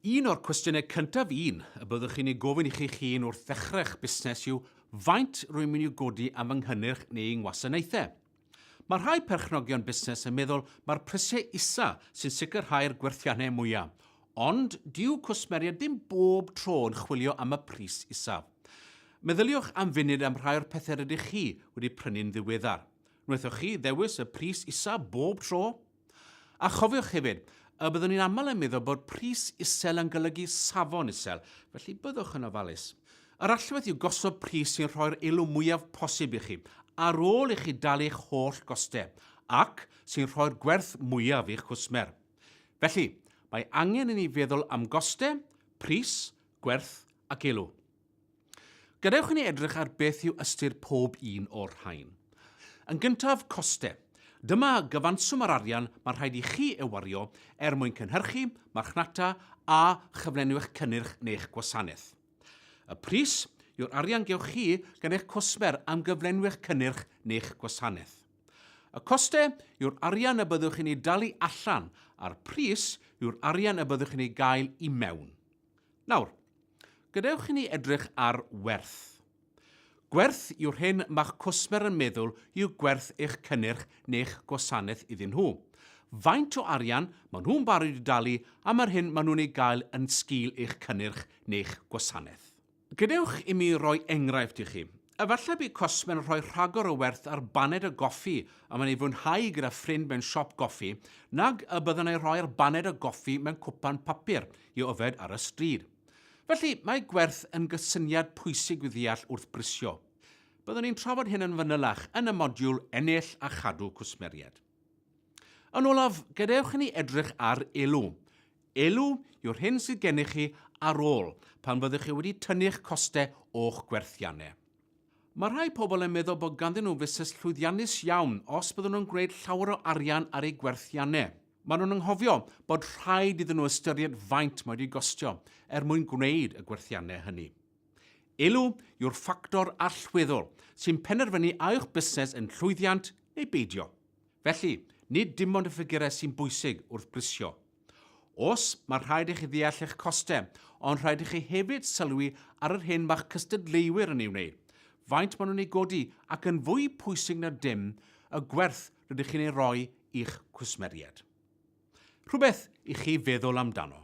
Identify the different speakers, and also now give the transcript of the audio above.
Speaker 1: Un o'r cwestiynau cyntaf un y byddwch chi'n ei gofyn i chi'ch hun wrth ddechrau'ch busnes yw faint rwy'n mynd i'w godi am fy nghynnyrch neu yng ngwasanaethau. Mae rhai perchnogion busnes yn meddwl mai'r prisiau isa sy'n sicrhau'r gwerthiannau mwyaf, ond dyw cwsmeriaid ddim bob tro yn chwilio am y pris isaf. Meddyliwch am funud am rhai o'r pethau rydych chi wedi prynu'n ddiweddar. Wnaethoch chi ddewis y pris isaf bob tro? A chofiwch hefyd, y byddwn ni'n aml yn meddwl bod pris isel yn golygu safon isel, felly byddwch yn ofalus. Yr allwedd yw gosod pris sy'n rhoi'r elw mwyaf posib i chi, ar ôl i chi dalu eich holl gostau, ac sy'n rhoi'r gwerth mwyaf i'ch cwsmer. Felly, mae angen i ni feddwl am gostau, pris, gwerth ac elw. Gadewch i ni edrych ar beth yw ystyr pob un o'r rhain. Yn gyntaf, costau. Dyma gyfanswm yr arian mae rhaid i chi ei wario er mwyn cynhyrchu, marchnata a chyflenwi eich cynnyrch neu'ch gwasanaeth. Y pris yw'r arian gewch chi gan eich cwsmer am gyflenwi eich cynnyrch neu'ch gwasanaeth. Y costau yw'r arian y byddwch chi'n ei dalu allan a'r pris yw'r arian y byddwch chi'n ei gael i mewn. Nawr, gadewch i ni edrych ar werth. Gwerth yw'r hyn mae'ch cwsmer yn meddwl yw gwerth eich cynnyrch neu'ch gwasanaeth iddyn nhw. Faint o arian maen nhw'n barod i dalu am yr hyn maen nhw'n ei gael yn sgil eich cynnyrch neu'ch gwasanaeth. Gadewch i mi roi enghraifft i chi. Efallai bydd cosmon yn rhoi rhagor o werth ar baned o goffi a mae'n ei fwynhau gyda ffrind mewn siop goffi nag y byddwn ei rhoi'r baned o goffi mewn cwpan papur i'w yfed ar y stryd. Felly, mae gwerth yn gysyniad pwysig i'w ddeall wrth brisio. Byddwn ni'n trafod hyn yn fanylach yn y modiwl Ennill a Chadw Cwsmeriaid. Yn olaf, gadewch i ni edrych ar elw. Elw yw'r hyn sydd gennych chi ar ôl pan fyddwch chi wedi tynnu'ch costau o'ch gwerthiannau. Mae rhai pobl yn meddwl bod ganddyn nhw fusnes llwyddiannus iawn os byddwn nhw'n gwneud llawer o arian ar eu gwerthiannau. Maen nhw'n anghofio bod rhaid iddyn nhw ystyried faint mae wedi gostio er mwyn gwneud y gwerthiannau hynny. Elw yw'r ffactor allweddol sy'n penderfynu a yw'ch busnes yn llwyddiant neu beidio. Felly, nid dim ond y ffigurau sy'n bwysig wrth brisio. Oes, mae rhaid i chi ddeall eich costau, ond rhaid i chi hefyd sylwi ar yr hyn mae'ch cystadleuwyr yn ei wneud, faint maen nhw'n ei godi ac yn fwy pwysig na dim, y gwerth rydych chi'n ei roi i'ch cwsmeriaid. Rhywbeth i chi feddwl amdano.